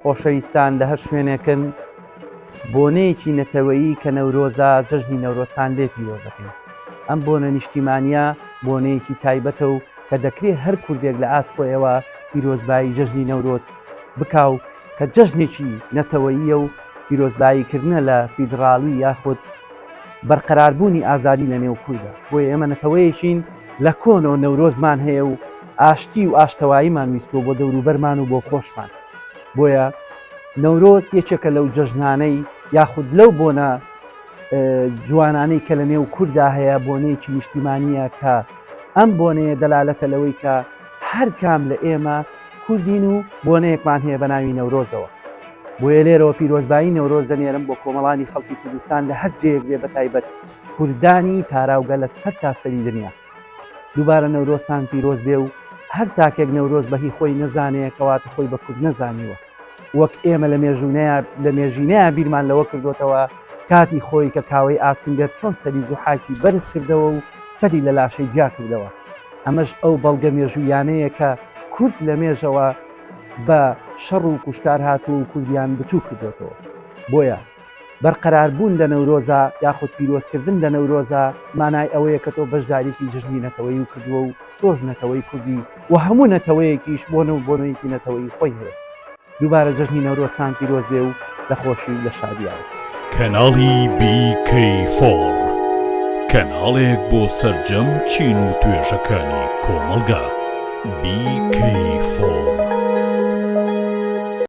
خۆشەویستان لە هەر شوێنێکن بۆنەیەکی نەتەوەیی کە نەورۆزە جەژنی نەورۆزتان لێ پیرۆزەکەین ئەم بۆنە نیشتیمانە بۆنەیەکی تایبەتە و کە دەکرێت هەر کوردێک لە ئاست خۆیەوە پیرۆزبایی جەژنی نەورۆز بکاو کە جەژنێکی نەتەوەییە و پیرۆزباییکردنە لە فیدراڵی یاخود بەرقەراربوونی ئازادی لە نێو کوردە بۆی ئێمە نەتەوەیەکین لە کۆنەوە نەورۆزمان هەیە و ئاشتی و ئاشتەواییمان ویستوە بۆ دەوروبەرمان و بۆ خۆشمان بۆیە نەورۆز یەکێکە لەو جەژنانەی یاخود لەو بۆنە جوانانەی کە لە نێو کووردا هەیە بۆنەیەکی نیشتیمانیە کە ئەم بۆنەیە دەلالەتە لەوەی کە هەر کام لە ئێمە کوردین و بۆنەیەکمان هەیە بە ناوی نەورۆزەوە بۆیە لێرەوە پیرۆزبایی نەورۆز دەنێرم بۆ کۆمەڵانی خەڵکی کوردستان لە هەر جێک بێ بە تایبەت کوردانی تاراوگە لە سەر تاسەری دنیا دووبارە نەورۆزتان پیرۆز بێ و هەر تاکێک نەورۆز بە هی خۆی نەزانێ کەواتە خۆی بە کورد نەزانیوە وەک ئێمە لە مێژوونەیە لە مێژینەیە بیرمان لەوە کردوتەوە کاتی خۆی کە کاوەی ئاسنگەر چۆن سەری زوحاکی بەرز کردەوە و سەری لە لاشەی جیا کردەوە ئەمەش ئەو بەڵگە مێژوویانەیە کە کورد لە مێژەوە بە شەڕ و کوشتار هاتووە و کوردیان بچوو کردێتەوە بۆیە بەرقەراربوون لە نەورۆزا یاخود پیرۆزکردن لە نەورۆزا مانای ئەوەیە کە تۆ بەشداریی جەژنی نەتەوەیی کردووە و تۆش نەتەوەی کوردی و هەموو نەتەوەیەکیش بۆنە و بۆنەیەکی نەتەوەیی خۆی هەیە. دووبارە جەژنی نەورۆزتان پیرۆز بێ و لە خۆشی و لە شادییاوە. کەناڵی بی کەی فۆڕ کەناڵێک بۆ سەرجەم چین و توێژەکانی کۆمەڵگا. بی کەی فۆڕ.